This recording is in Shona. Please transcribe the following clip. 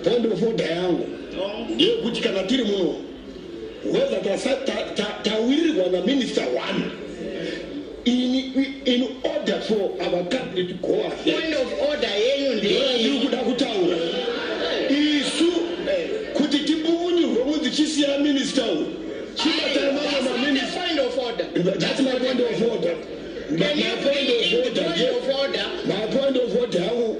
Tondofodha yangu ndeyekuti kana tiri muno whether tawirirwa ta, ta, ta naminista one in, in order for our country to go ahead kuda kutaura isu kuti tipukunyurwe kunzi chisiya minista uyu chibatana mamwe maminista that's my point of order my point of order